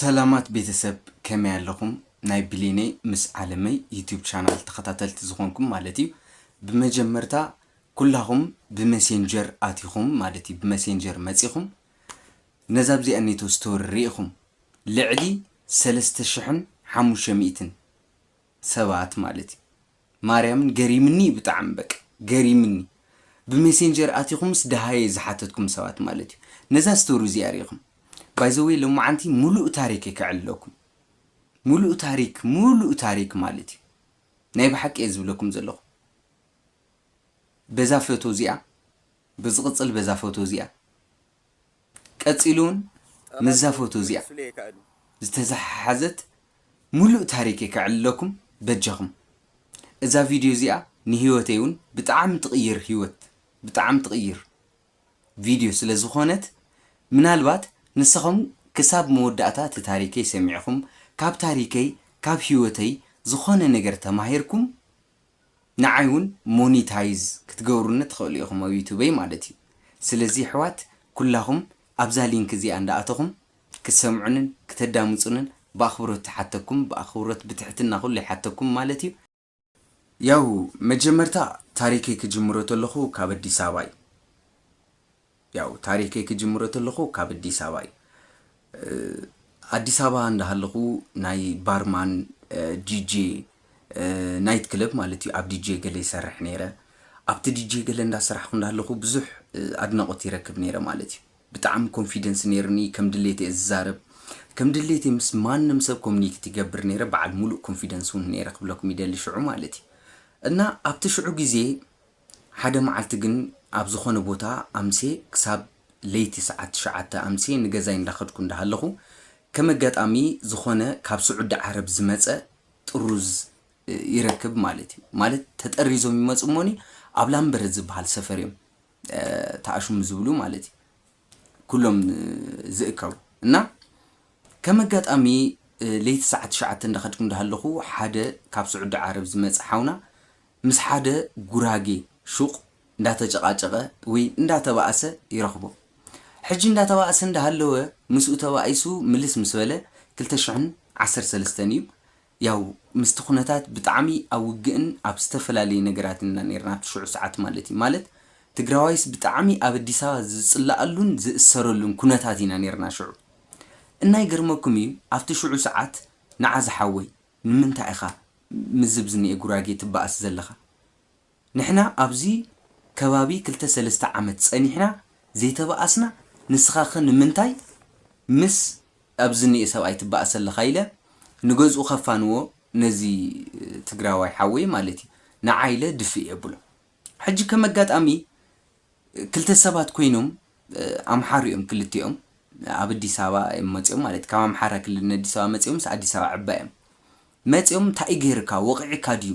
ሰላማት ቤተሰብ ከመይ ኣለኹም ናይ ብሌነይ ምስ ዓለመይ ዩቱብ ቻናል ተኸታተልቲ ዝኾንኩም ማለት እዩ ብመጀመርታ ኩላኹም ብመሴንጀር ኣቲኹም ማለት እዩ ብመሴንጀር መጺኹም ነዛ ኣብዚኣ ኔቶ ስቶሪ ርኢኹም ልዕሊ ሰለስተ ሽሕን ሓሙሽተ ሚእትን ሰባት ማለት እዩ ማርያምን ገሪምኒ እዩ ብጣዕሚ በቃ ገሪምኒ ብሜሴንጀር ኣቲኹምስ ደሃየ ዝሓተትኩም ሰባት ማለት እዩ ነዛ ስቶሪ እዚኣ ሪኢኹም ባይ ዘ ዌይ ሎማዓንቲ ሙሉእ ታሪክ እየ ከዕልለኩም ሙሉእ ታሪክ ሙሉእ ታሪክ ማለት እዩ ናይ ብሓቂ እየ ዝብለኩም ዘለኹ በዛ ፎቶ እዚኣ ብዝቕፅል በዛ ፎቶ እዚኣ ቀጺሉ ውን ምስዛ ፎቶ እዚኣ ዝተዘሓሓዘት ሙሉእ ታሪከይ ከዕልለኩም በጃኹም እዛ ቪድዮ እዚኣ ንሂወተይ ውን ብጣዕሚ ትቕይር ሂወት ብጣዕሚ ትቕይር ቪድዮ ስለ ዝኾነት ምናልባት ንስኹም ክሳብ መወዳእታ እቲ ታሪከይ ሰሚዕኹም ካብ ታሪከይ ካብ ሂወተይ ዝኾነ ነገር ተማሂርኩም ንዓይ ውን ሞኒታይዝ ክትገብሩኒ ትክእሉ ኢኩም ኣብ ዩቱበይ ማለት እዩ ስለዚ የሕዋት ኩላኩም ኣብዛ ሊንክ እዚኣ እንዳኣተኩም ክትሰምዑንን ክተዳምጹንን ብኣክብሮት ይሓተኩም ብኣክብሮት ብትሕትና ኩሉ ይሓተኩም ማለት እዩ። ያው መጀመርታ ታሪከይ ክጅምሮ ተለኩ ካብ ኣዲስ ኣበባ እዩ ያው ታሪከይ ክጅምሮ ተለኹ ካብ ኣዲስ ኣበባ እዩ ኣዲስ ኣበባ እንዳሃለኹ ናይ ባርማን ዲጄ ናይት ክለብ ማለት እዩ ኣብ ዲጄ ገለ ይሰርሕ ነይረ ኣብቲ ዲጄ ገለ እንዳሰራሕኩ እንዳሃለኹ ብዙሕ ኣድናቆት ይረክብ ነይረ ማለት እዩ ብጣዕሚ ኮንፊደንስ ነይርኒ ከም ድሌት እየ ዝዛረብ ከም ድሌት ምስ ማንም ሰብ ኮሚኒኬት ይገብር ነይረ በዓል ሙሉእ ኮንፊደንስ እውን ነይረ ክብለኩም ይደሊ ሽዑ ማለት እዩ እና ኣብቲ ሽዑ ግዜ ሓደ መዓልቲ ግን ኣብ ዝኾነ ቦታ ኣምስየ ክሳብ ለይቲ ሰዓት ትሽዓተ ኣምስየ ንገዛይ እንዳኸድኩ እንዳሃለኹ ከም ኣጋጣሚ ዝኾነ ካብ ስዑዲ ዓረብ ዝመጸ ጥሩዝ ይረክብ ማለት እዩ ማለት ተጠሪዞም ይመጹ እሞኒ ኣብ ላምበረት ዝበሃል ሰፈር እዮም ተኣሽሙ ዝብሉ ማለት እዩ ኩሎም ዝእከቡ እና ከም ኣጋጣሚ ለይቲ ሰዓት ትሽዓተ እንዳኸድኩ እንዳሃለኹ ሓደ ካብ ስዑዲ ዓረብ ዝመጸ ሓውና ምስ ሓደ ጉራጌ ሹቕ እንዳተጨቓጨቐ ወይ እንዳተባኣሰ ይረኽቦ ሕጂ እንዳተባኣሰ እንዳሃለወ ምስኡ ተባኢሱ ምልስ ምስ በለ ክልተ ሽሕን ዓሰርተ ሰለስተን እዩ ያው ምስቲ ኩነታት ብጣዕሚ ኣብ ውግእን ኣብ ዝተፈላለዩ ነገራትን ኢና ኔርና ኣብቲ ሽዑ ሰዓት ማለት እዩ። ማለት ትግራዋይስ ብጣዕሚ ኣብ ኣዲስ ኣበባ ዝፅለኣሉን ዝእሰረሉን ኩነታት ኢና ኔርና ሽዑ። እና ይገርመኩም እዩ ኣብቲ ሽዑ ሰዓት ንዓ ዝሓወይ ንምንታይ ኢኻ ምስዚ ብዝኒኤ ጉራጌ ትበኣስ ዘለኻ? ንሕና ኣብዚ ከባቢ ክልተ ሰለስተ ዓመት ጸኒሕና ዘይተባኣስና ንስኻኸ ንምንታይ ምስ ኣብዚ ዝኒኤ ሰብኣይ ትባኣስ ኣለኻ ኢለ ንገዝኡ ከፋንዎ ነዚ ትግራዋይ ሓወይ ማለት እዩ ንዓ ኢለ ድፍእ የብሎ ሕጂ ከም ኣጋጣሚ ክልተ ሰባት ኮይኖም ኣምሓሩ እዮም ክልቲኦም ኣብ ኣዲስ ኣበባ እዮም መጺኦም ማለት ካብ ኣምሓራ ክልል ንኣዲስ ኣበባ መጺኦምስ ኣዲስ ኣበባ ዕባ እዮም መጺኦም እንታይ እዩ ገይርካ ወቒዕካ ድዩ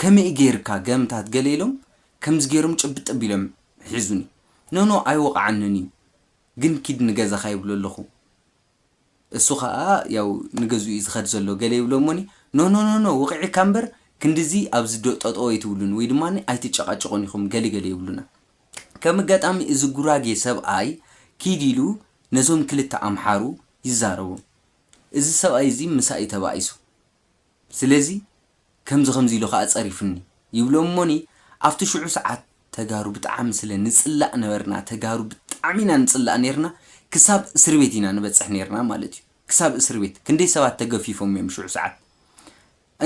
ከመይ ገይርካ ገምታት ገለ ኢሎም ከምዚ ገይሮም ጭብጥ ኣቢሎም ሒዙኒ ኖኖ ኣይወቕዓንን እዩ ግን ኪድ ንገዛኻ ይብሎ ኣለኹ እሱ ኸኣ ያው ንገዝኡ እዩ ዝኸድ ዘሎ ገለ ይብሎ እሞኒ ኖኖ ኖኖ ወቒዕካ እምበር ክንድዚ ኣብዚ ዶ ጠጠው ኣይትብሉን ወይ ድማ ኣይትጨቓጨቑን ኢኹም ገለ ገለ ይብሉና ከም ኣጋጣሚ እዚ ጉራጌ ሰብኣይ ኪድ ኢሉ ነዞም ክልተ ኣምሓሩ ይዛረቦም እዚ ሰብኣይ እዚ ምሳይ ተባኢሱ። ስለዚ ከምዚ ከምዚ ኢሉ ከኣ ጸሪፍኒ ይብሎም እሞኒ ኣብቲ ሽዑ ሰዓት ተጋሩ ብጣዓሚ ስለ ንጽላእ ነበርና ተጋሩ ብጣዕሚ ኢና ንጽላእ ነርና ክሳብ እስርቤት ኢና ንበጽሕ ነርና ማለት እዩ ክሳብ እስርቤት ክንደይ ሰባት ተገፊፎም እዮም ሽዑ ሰዓት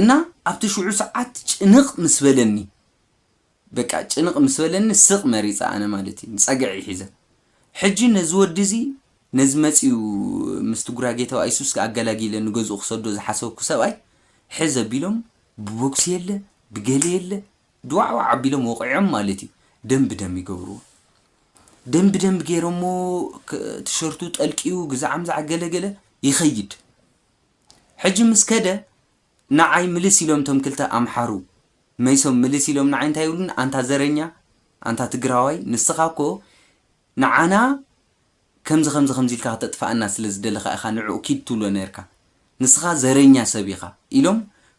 እና ኣብቲ ሽዑ ሰዓት ጭንቅ ምስ በለኒ በቃ ጭንቕ ምስ በለኒ ስቕ መሪጸ ኣነ ማለት እዩ ጸግዒ ሒዘ ሕጂ ነዚ ወዲ እዚ ነዚ መጺኡ ምስቲ ጉራጌ ተባኣይ ሱስ ከኣ ኣገላጊለ ንገዝኡ ክሰዶ ዝሓሰብኩ ሰብኣይ ሕዝ ኣቢሎም ብቦክሲ የለ ብገለ የለ ድዋዕዋዕ ኣቢሎም ወቒዖም ማለት እዩ ደም ብደም ይገብርዎ ደም ብደም ገይሮሞ ቲሸርቱ ጠልቂዩ ግዛዓምዛዕ ገለ ገለ ይኸይድ ሕጂ ምስ ከደ ናዓይ ምልስ ኢሎም ቶም ክልተ ኣምሓሩ መይሶም ምልስ ኢሎም ናዓይ እንታይ ይብሉኒ ኣንታ ዘረኛ ኣንታ ትግራዋይ ንስኻ እኮ ናዓና ከምዚ ከምዚ ከምዚ ኢልካ ክተጥፋኣና ስለ ዝደለኻ ኢኻ ንዑኡ ኪድ ትብሎ ነርካ ንስኻ ዘረኛ ሰብ ኢኻ ኢሎም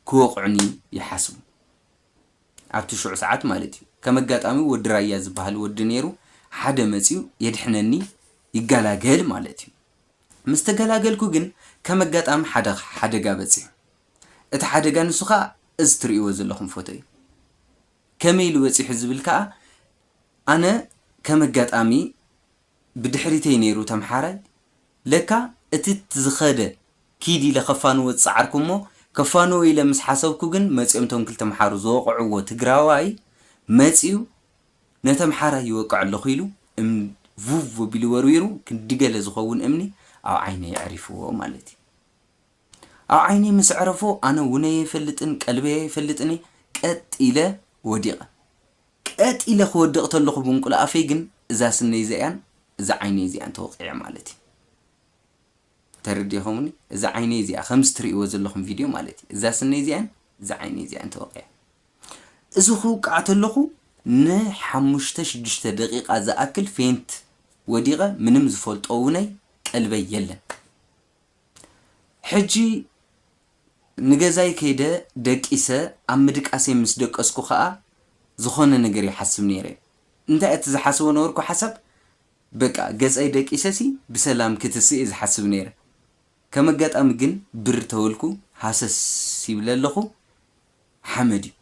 ክወቕዑኒ ይሓስቡ ኣብቲ ሽዑ ሰዓት ማለት እዩ ከም ኣጋጣሚ ወዲ ራያ ዝባሃል ወዲ ነይሩ ሓደ መጽዩ የድሕነኒ ይጋላገል ማለት እዩ ምስ ተገላገልኩ ግን ከም ኣጋጣሚ ሓደ ሓደጋ በጺሑ። እቲ ሓደጋ ንሱ ከኣ እዚ ትርእይዎ ዘለኹም ፎቶ እዩ። ከመይ ኢሉ በጺሑ ዝብል ከኣ ኣነ ከም ኣጋጣሚ ብድሕሪተይ ነይሩ ተምሓራይ ለካ እቲ ዝኸደ ኪድ ኢለ ከፋንዎ ዝጸዓርኩ እሞ ከፋንዎ ኢለ ምስ ሓሰብኩ ግን መጺኦም እቶም ክልተ ኣምሓሩ ዝወቕዕዎ ትግራዋይ መጺኡ ነቲ ኣምሓራይ ይወቅዕ ኣለኹ ኢሉ እምኒ ቭቭ ኣቢሉ ወርዊሩ ክንዲ ገለ ዝኸውን እምኒ ኣብ ዓይነይ ኣዕሪፍዎ ማለት እዩ። ኣብ ዓይነይ ምስ ኣዕረፎ ኣነ ውነይ ኣይፈልጥን ቀልበይ ኣይፈልጥን እየ ቀጥ ኢለ ወዲቐ። ቀጥ ኢለ ክወድቕ ተለኹ ብምቁሊ ኣፈይ ግን እዛ ስነይ እዚኣን እዛ ዓይነይ እዚኣን ተወቒዐ ማለት እዩ። ተረዲእኹምኒ እዛ ዓይነይ እዚኣ ከምዚ ትርእይዎ ዘለኹም ቪድዮ ማለት እዩ እዛ ስነይ እዚኣን እዛ ዓይነይ እዚኣን ተወቒዐ እዚ ክውቃዕ ተለኹ ንሓሙሽተ ሽዱሽተ ደቂቓ ዝኣክል ፌንት ወዲቐ ምንም ዝፈልጦ እውነይ ቀልበይ የለን ሕጂ ንገዛይ ከይደ ደቂሰ ኣብ ምድቃሰይ ምስ ደቀስኩ ከዓ ዝኾነ ነገር ይሓስብ ነይረ እንታይ እቲ ዝሓስቦ ነበርኩ ሓሳብ በቃ ገጸይ ደቂሰሲ ብሰላም ክትስእ እየ ዝሓስብ ነይረ ከም ኣጋጣሚ ግን ብር ተበልኩ ሃሰስ ይብለ ኣለኩ ሓመድ እዩ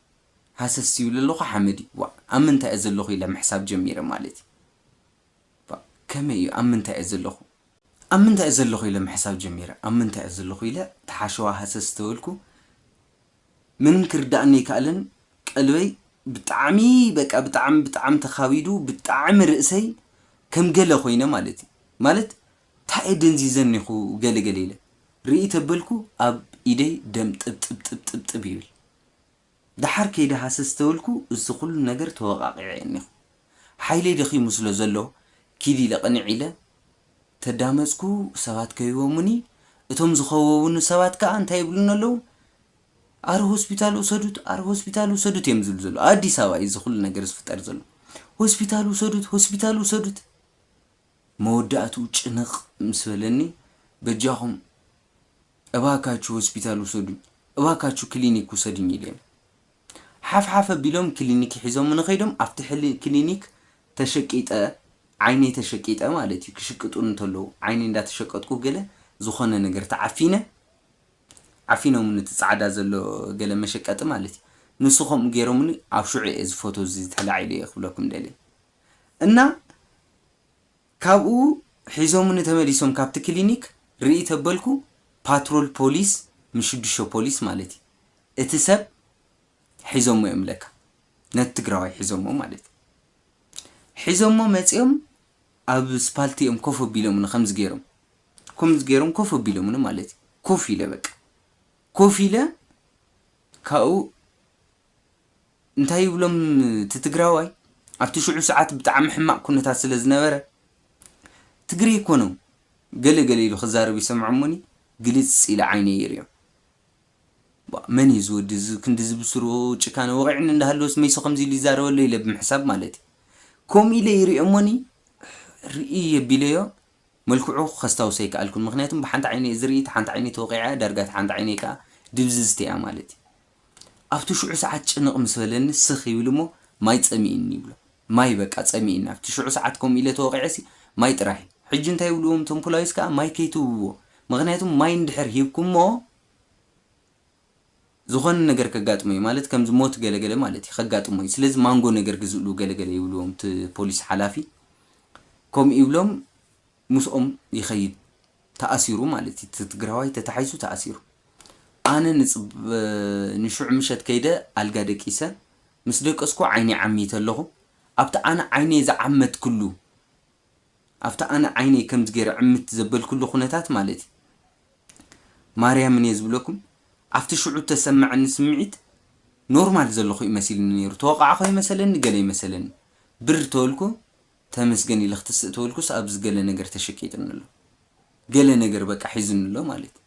ሃሰስ ይብለ ኣለኩ ሓመድ እዩ ዋእ ኣብ ምንታይ እየ ዘለኩ ኢለ ምሕሳብ ጀሚረ ማለት እዩ ዋእ ከመይ እዩ ኣብ ምንታይ እየ ዘለኩ ኣብ ምንታይ እየ ዘለኩ ኢለ ምሕሳብ ጀሚረ ኣብ ምንታይ እየ ዘለኩ ኢለ እቲ ሓሸዋ ሃሰስ ተበልኩ ምንም ክርዳኣኒ ኣይካኣለን ቀልበይ ብጣዕሚ በቃ ብጣዕሚ ብጣዕሚ ተካቢዱ ብጣዕሚ ርእሰይ ከም ገለ ኮይነ ማለት እዩ ማለት ታይ እየ ደንዚዘ እኒኩ ገለ ገለ ኢለ ርእይ ተበልኩ ኣብ ኢደይ ደም ጥብጥብጥብጥብ ይብል ዳሓር ከይደ ሃሰስ ተበልኩ እዚ ኩሉ ነገር ተወቃቂዐ እኒኩ ሓይለይ ደኺሙ ስለ ዘሎ ኪድ ኢለ ቅንዕ ኢለ ተዳመጽኩ፣ ሰባት ከቢቦሙኒ፣ እቶም ዝኸበቡኒ ሰባት ከኣ እንታይ ይብሉኒ ኣለዉ፣ ኣረ ሆስፒታል ውሰዱት፣ ኣረ ሆስፒታል ውሰዱት እዮም ዝብሉ ዘለዉ፣ ኣብ ኣዲስ ኣበባ እዩ እዚ ኩሉ ነገር ዝፍጠር ዘሎ፣ ሆስፒታል ውሰዱት፣ ሆስፒታል ውሰዱት፣ መወዳእትኡ ጭንቕ ምስ በለኒ በጃኹም እባካችሁ ሆስፒታል ውሰዱኝ፣ እባካችሁ ክሊኒክ ውሰዱኝ ኢለ ሓፍሓፍ ኣቢሎም ክሊኒክ ሒዞሙኒ ከይዶም ኣብቲ ሕሊ ክሊኒክ ተሸቂጠ ዓይነይ ተሸቂጠ ማለት እዩ ክሽቅጡኒ እንተለዉ ዓይነይ እንዳተሸቀጥኩ ገለ ዝኾነ ነገር ተዓፊነ ዓፊኖሙኒ እቲ ጻዕዳ ዘሎ ገለ መሸቀጢ ማለት እዩ ንሱ ከምኡ ጌሮሙኒ ኣብ ሽዑ እየ እዚ ፎቶ እዚ ተላዒሉ እየ ክብለኩም ደልየ እና ካብኡ ሒዞሙኒ ተመሊሶም ካብቲ ክሊኒክ ርእይ ተበልኩ ፓትሮል ፖሊስ ምሽዱሾ ፖሊስ ማለት እዩ እቲ ሰብ ሒዞሞ እዮም ለካ ነቲ ትግራዋይ ሒዞሞ ማለት እዩ ሒዞሞ መፅዮም ኣብ ስፓልቲ እዮም ኮፍ ኣቢሎሙኒ ከምዚ ገይሮም ከምዚ ገይሮም ኮፍ ኣቢሎሙኒ ማለት እዩ ኮፍ ኢለ በቃ ኮፍ ኢለ ካብኡ እንታይ ይብሎም እቲ ትግራዋይ ኣብቲ ሽዑ ሰዓት ብጣዕሚ ሕማቅ ኩነታት ስለ ዝነበረ ትግሬ ኮነው ገለ ገለ ኢሉ ክዛረብ ይሰምዖ እሞኒ ግልጽ ኢለ ዓይነይ ይሪኦ ቧእ መን እዩ እዚ ወዲ እዚ ክንድዚ ብስሩ ጭካነ ወቂዕኒ እንዳሃለወስ መይሱ ከምዚ ኢሉ ይዛረበሎ ኢለ ብምሕሳብ ማለት እዩ ከምኡ ኢለ ይሪኦ እሞኒ ርእይ የቢለዮ መልክዑ ከስታውሶ ኣይከኣልኩን ምኽንያቱም ብሓንቲ ዓይነይ እዚ ርእይት ሓንቲ ዓይነይ ተወቒዓ እያ ዳርጋ እታ ሓንቲ ዓይነይ ከኣ ድብዝዝቲ እያ ማለት እዩ ኣብቲ ሽዑ ሰዓት ጭንቕ ምስ በለኒ ስኽ ይብል እሞ ማይ ጸሚእኒ ይብሎ ማይ በቃ ጸሚእኒ ኣብቲ ሽዑ ሰዓት ከምኡ ኢለ ተወቒዐሲ ማይ ጥራይ ሕጂ እንታይ ይብልዎም እቶም ፖላዊስ ከኣ ማይ ከይትህብዎ ምኽንያቱም ማይ እንድሕር ሂብኩሞ ዝኾነ ነገር ከጋጥሞ እዩ ማለት ከምዚ ሞት ገለ ገለ ማለት እዩ ከጋጥሞ እዩ ስለዚ ማንጎ ነገር ግዝእሉ ገለ ገለ ይብልዎም እቲ ፖሊስ ሓላፊ ከምኡ ይብሎም ምስኦም ይኸይድ ተኣሲሩ ማለት እዩ እቲ ትግራዋይ ተታሒዙ ተኣሲሩ ኣነ ንፅበ ንሽዑ ምሸት ከይደ ኣልጋ ደቂሰ ምስ ደቀስኩ ዓይነይ ዓሚተ ኣለኹ ኣብቲ ኣነ ዓይነይ ዝዓመትክሉ ኣብቲ ኣነ ዓይነይ ከምዚ ገይረ ዕምት ዘበልኩሉ ኩነታት ማለት እዩ ማርያምን እየ ዝብለኩም ኣብቲ ሽዑ እተሰመዐኒ ስምዒት ኖርማል ዘለኹ እዩ መሲልኒ ነይሩ ተወቃዕኹ ኣይመሰለኒ ገለ ኣይመሰለኒ ብር ተበልኩ ተመስገን ኢለ ክትስእ ተበልኩስ ኣብዚ ገለ ነገር ተሸቂጥኒ ኣሎ ገለ ነገር በቃ ሒዝኒ ኣሎ ማለት እዩ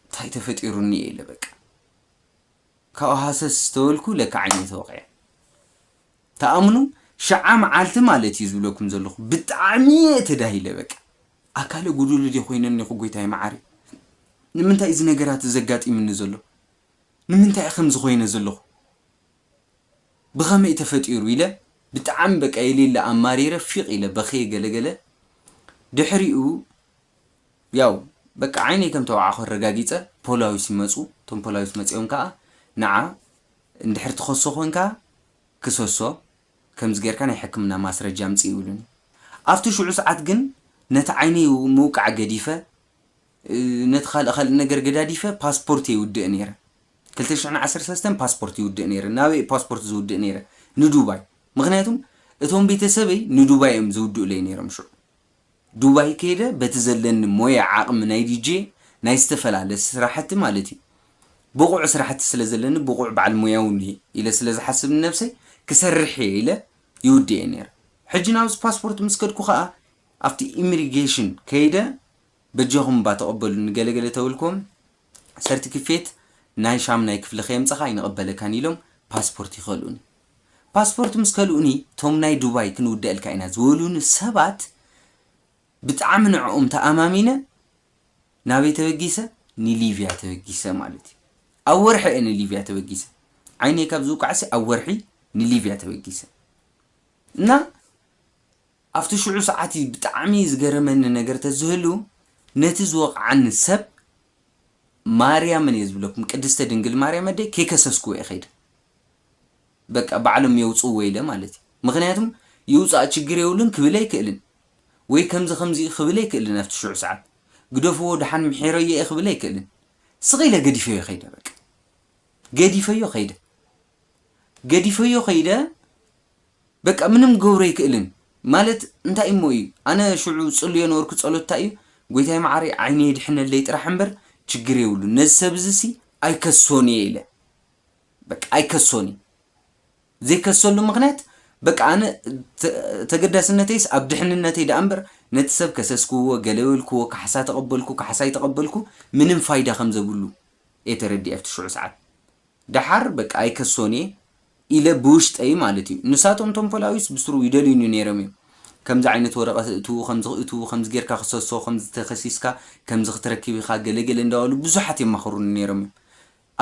እንታይ ተፈጢሩኒ እየ ኢለ በቃ ካብኡ ሃሰስ ተበልኩ ለካ ዓይነይ ተወቂዐ ትኣምኑ ሽዓ መዓልቲ ማለት እዩ ዝብለኩም ዘለኩ ብጣዕሚ እየ ተዳሂለ በቃ ኣካለ ጉዱል ድየ ኮይነ እኒኩ ጎይታይ መዓረይ ንምንታይ እዩ እዚ ነገራት እዚ ዘጋጢምኒ ዘሎ ንምንታይ እየ ከምዚ ኮይነ ዘለኩ ብከመይ ተፈጢሩ ኢለ ብጣዕሚ በቃ የሌለ ኣማሪረ ፊቅ ኢለ በክየ ገለ ገለ ድሕሪኡ ያው በቃ ዓይነይ ከም ተወዓኩ ኣረጋጊፀ ፖላዊስ ይመፁ እቶም ፖላዊስ መፂኦም ከዓ ንዓ እንድሕር ትኸሶ ኮንካ ክሰሶ ከምዚ ጌርካ ናይ ሕክምና ማስረጃ ኣምጽእ ይብሉኒ ኣብቲ ሽዑ ሰዓት ግን ነቲ ዓይነይ ምውቃዕ ገዲፈ ነቲ ካልእ ካልእ ነገር ገዳዲፈ ፓስፖርት የውድእ ነይረ ክልተ ሽሕን ዓሰርተ ሰለስተን ፓስፖርት ይውድእ ነይረ ናበይ እየ ፓስፖርት ዝውድእ ነይረ ንዱባይ ምክንያቱም እቶም ቤተሰበይ ንዱባይ እዮም ዝውድኡለይ ነይሮም ሽዑ ዱባይ ከይደ በቲ ዘለኒ ሞያ ዓቅሚ ናይ ዲጄ ናይ ዝተፈላለ ስራሕቲ ማለት እዩ ብቁዕ ስራሕቲ ስለ ዘለኒ ብቁዕ በዓል ሞያ ውን እየ ኢለ ስለ ዝሓስብ ንነብሰይ ክሰርሕ እየ ኢለ ይውድእ እየ ነይረ ሕጂ ናብዚ ፓስፖርት ምስ ከድኩ ከኣ ኣብቲ ኢምሪጌሽን ከይደ በጃኩም እባ ተቀበሉኒ ገለ ገለ ተበልኩዎም ሰርትክፌት ናይ ሻምናይ ክፍሊ ከየምጻኻ ኣይንቕበለካን ኢሎም ፓስፖርት ይኸልኡኒ። ፓስፖርት ምስ ከልኡኒ ቶም ናይ ዱባይ ክንውደኣልካ ኢና ዝበሉኒ ሰባት ብጣዕሚ ንዕኦም ተኣማሚነ ናበይ ተበጊሰ ንሊብያ ተበጊሰ ማለት እዩ። ኣብ ወርሒ እየ ንሊብያ ተበጊሰ። ዓይነይ ካብ ዝውቃዕሲ ኣብ ወርሒ ንሊብያ ተበጊሰ እና ኣብቲ ሽዑ ሰዓት እዩ ብጣዕሚ ዝገረመኒ ነገር ተዝህሉ ነቲ ዝወቕዓኒ ሰብ ማርያምን እየ ዝብለኩም ቅድስተ ድንግል ማርያም ኣደይ ከይከሰስክዎ እየ ከይደ በቃ ባዕሎም የውጽእዎ ኢለ ማለት እዩ ምኽንያቱም ይውጻእ ችግር የብሉን ክብል ኣይክእልን ወይ ከምዚ ከምዚ እዩ ክብል ኣይክእልን ኣብቲ ሽዑ ሰዓት ግደፍዎ ድሓን ምሒረዮ እየ ክብል ኣይክእልን ስቕ ኢለ ገዲፈዮ ከይደ በቃ ገዲፈዮ ከይደ ገዲፈዮ ከይደ በቃ ምንም ክገብሮ ኣይክእልን ማለት እንታይ እሞ እዩ ኣነ ሽዑ ዝጽልዮ ነበርኩ ጸሎት እንታይ እዩ ጎይታይ መዓረይ ዓይነይ የድሕነለይ ጥራሕ እምበር ችግር የብሉን ነዚ ሰብ እዚ ሲ ኣይከሶን እየ ኢለ በቃ ኣይከሶን እየ ዘይከሰሉ ምክንያት በቃ ኣነ ተገዳስነተይስ ኣብ ድሕንነተይ ደኣ እምበር ነቲ ሰብ ከሰስክዎ ገለ በልክዎ ካሕሳ ተቐበልኩ ካሕሳ ኣይተቐበልኩ ምንም ፋይዳ ከም ዘብሉ እየ ተረዲኤ ኣብቲ ሽዑ ሰዓት ደሓር በቃ ኣይከሶን'የ ኢለ ብውሽጠይ ማለት እዩ። ንሳቶም እቶም ፖላዊስ ብስሩ ይደልዩኒ ነይሮም እዮም። ከምዚ ዓይነት ወረቐት እእትው ከምዚ ክእትው ከምዚ ጌርካ ክሰሶ ከምዚ ተኸሲስካ ከምዚ ክትረክብ ኢኻ ገለ ገለ እንዳበሉ ብዙሓት የማኽሩኒ ነይሮም እዮም።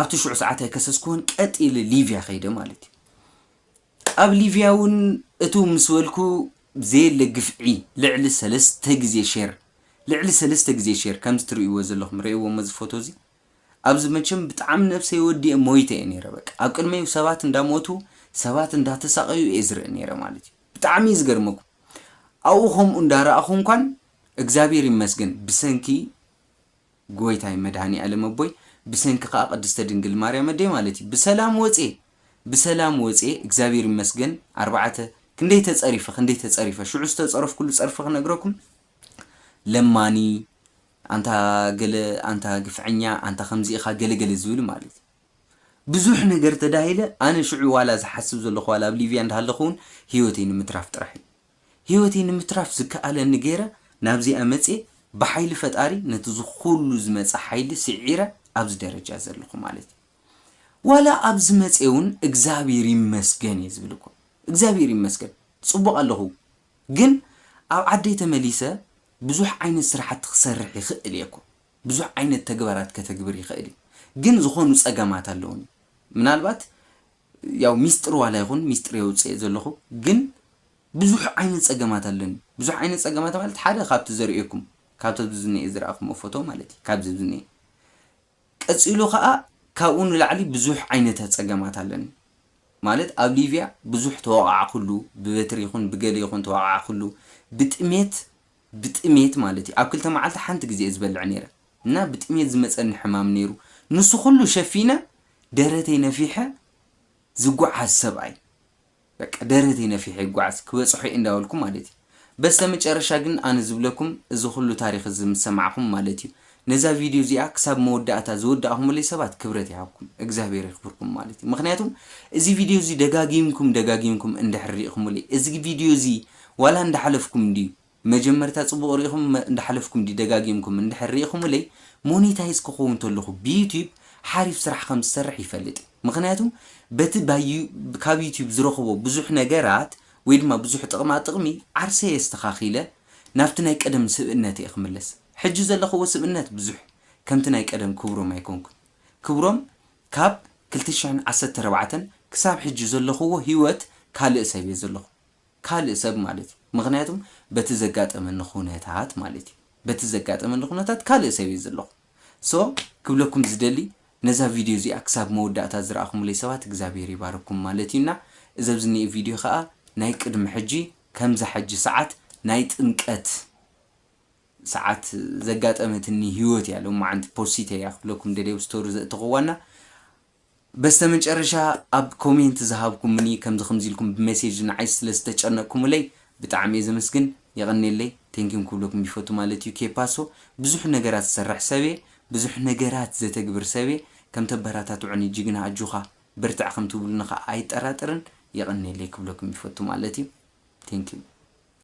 ኣብቲ ሽዑ ሰዓት ኣይከሰስኩዎን ቀጥ ኢለ ሊብያ ከይደ ማለት እዩ። ኣብ ሊብያ እውን እትው ምስ በልኩ ዘየለ ግፍዒ ልዕሊ ሰለስተ ግዜ ሼር ልዕሊ ሰለስተ ግዜ ሼር ከምዚ ትርእይዎ ዘለኹም ርእይዎ'ሞ እዚ ፎቶ እዚ ኣብዚ መቸም ብጣዕሚ ነብሰይ ወዲኤ ሞይተ እየ ነይረ በቃ ኣብ ቅድመይ ሰባት እንዳሞቱ ሰባት እንዳተሳቀዩ እየ ዝርኢ ነይረ ማለት እዩ ብጣዕሚ እዩ ዝገርመኩም ኣብኡ ከምኡ እንዳረኣኹ እንኳን እግዚኣብሔር ይመስገን ብሰንኪ ጎይታይ መድሃኒኣለም ኣቦይ ብሰንኪ ከዓ ቅድስተ ድንግል ማርያም ኣደይ ማለት እዩ ብሰላም ወፅየ ብሰላም ወፅየ እግዚኣብሔር ይመስገን ኣርባዕተ ክንደይ ተፀሪፈ ክንደይ ተፀሪፈ ሽዑ ዝተፀረፍኩሉ ፀርፊ ክነግረኩም ለማኒ ኣንታ ገለ ኣንታ ግፍዐኛ ኣንታ ከምዚ ኢኻ ገለ ገለ ዝብል ማለት እዩ ብዙሕ ነገር ተዳሂለ ኣነ ሽዑ ዋላ ዝሓስብ ዘለኹ ዋላ ኣብ ሊብያ እንዳሃለኹ ውን ሂወተይ ንምትራፍ ጥራሕ እዩ ሂወተይ ንምትራፍ ዝከኣለኒ ጌረ ናብዚኣ መጽየ ብሓይሊ ፈጣሪ ነቲ ዝኹሉ ዝመጸ ሓይሊ ሲዒረ ኣብዚ ደረጃ ዘለኹ ማለት እዩ ዋላ ኣብዚ መጽየ ውን እግዝኣብሄር ይመስገን እየ ዝብል እኮ እግዝኣብሄር ይመስገን ጽቡቕ ኣለኹ ግን ኣብ ዓደይ ተመሊሰ ብዙሕ ዓይነት ስራሕቲ ክሰርሕ ይኽእል እየ እኮ ብዙሕ ዓይነት ተግባራት ከተግብር ይኽእል እዩ ግን ዝኾኑ ፀገማት ኣለዉኒ ምናልባት ያው ሚስጥር ዋላ ይኹን ሚስጥር የውፅኤ ዘለኹ ግን ብዙሕ ዓይነት ፀገማት ኣለኒ ብዙሕ ዓይነት ፀገማት ማለት ሓደ ካብቲ ዘርእየኩም ካብቲ ኣብዚ ዝኒኤ ዝረኣኹሞ ፎቶ ማለት እዩ ካብዚ ኣብዚ ዝኒኤ ቀጺሉ ከኣ ካብኡ ንላዕሊ ብዙሕ ዓይነተ ጸገማት ኣለኒ ማለት ኣብ ሊብያ ብዙሕ ተወቓዕኩሉ ብበትሪ ይኹን ብገለ ይኹን ተወቓዕኩሉ ብጥሜት ብጥሜት ማለት እዩ ኣብ ክልተ መዓልቲ ሓንቲ ግዜ እየ ዝበልዕ ኔረ እና ብጥሜት ዝመጸኒ ሕማም ኔሩ ንሱ ኩሉ ሸፊነ ደረተይ ነፊሐ ዝጉዓዝ ሰብኣይ በቃ ደረተይ ነፊሐ ይጓዓዝ ክበጽሖ እየ እንዳበልኩ ማለት እዩ በስተመጨረሻ ግን ኣነ ዝብለኩም እዚ ኩሉ ታሪኽ እዚ ምስ ሰማዕኹም ማለት እዩ ነዛ ቪድዮ እዚኣ ክሳብ መወዳእታ ዝወዳእኹምለይ ሰባት ክብረት ይሃብኩም እግዛብሄር የኽብርኩም ማለት እዩ ምኽንያቱ እዚ ቪድዮ እዚ ደጋጊምኩም ደጋጊምኩም እንድሕር ሪኢኹምለይ እዚ ቪድዮ እዚ ዋላ እንዳሓለፍኩም እንድዩ መጀመርታ ጽቡቅ ሪኢኹም እንዳሓለፍኩም ድዩ ደጋጊምኩም እንድሕር ሪኢኹምለይ ሞኔታይዝ ክኸውን ተለኹ ብዩቱብ ሓሪፍ ስራሕ ከም ዝሰርሕ ይፈልጥ እየ ምኽንያቱ በቲ ካብ ዩቱብ ዝረኽቦ ብዙሕ ነገራት ወይ ድማ ብዙሕ ጥቅማ ጥቅሚ ዓርሰይ ኣስተኻኺለ ናብቲ ናይ ቀደም ስብእነተይ ክምለስ ሕጂ ዘለኽዎ ስብእነት ብዙሕ ከምቲ ናይ ቀደም ክብሮም ኣይኮንኩን ክብሮም ካብ ክልተ ሽሕን ዓሰርተ ኣርባዕተን ክሳብ ሕጂ ዘለኽዎ ሂወት ካልእ ሰብ እየ ዘለኹ ካልእ ሰብ ማለት እዩ ምኽንያቱም በቲ ዘጋጠመኒ ኹነታት ማለት እዩ በቲ ዘጋጠመኒ ኹነታት ካልእ ሰብ እየ ዘለኹ so ክብለኩም ዝደሊ ነዛ ቪድዮ እዚኣ ክሳብ መወዳእታ ዝረኣኹምለይ ሰባት እግዚኣብሄር ይባርኩም ማለት እዩ እና እዚ ኣብዚ እኒኤ ቪድዮ ኸኣ ናይ ቅድሚ ሕጂ ከምዛ ሕጂ ሰዓት ናይ ጥምቀት ሰዓት ዘጋጠመትኒ ሂወት እያ ሎማዓንቲ ፖሲተያ ክብለኩም ደልየ ኣብ ስቶሪ ዘእተኹዋ እና በስተመጨረሻ ኣብ ኮሜንት ዝሃብኩሙኒ ከምዚ ከምዚ ኢልኩም ብመሴጅ ንዓይ ስለ ዝተጨነቅኩሙለይ ብጣዕሚ እየ ዘመስግን የቀንየለይ ቴንኪም ክብለኩም ይፈቱ ማለት እዩ ኬፓሶ ብዙሕ ነገራት ዝሰርሕ ሰብ እየ ብዙሕ ነገራት ዘተግብር ሰብ እየ ከም ተበራታትዑኒ ጅግና ኣጆካ በርትዕ ከም ትብሉኒ ከኣ ኣይጠራጠርን የቀንየለይ ክብለኩም ይፈቱ ማለት እዩ ቴንኪው።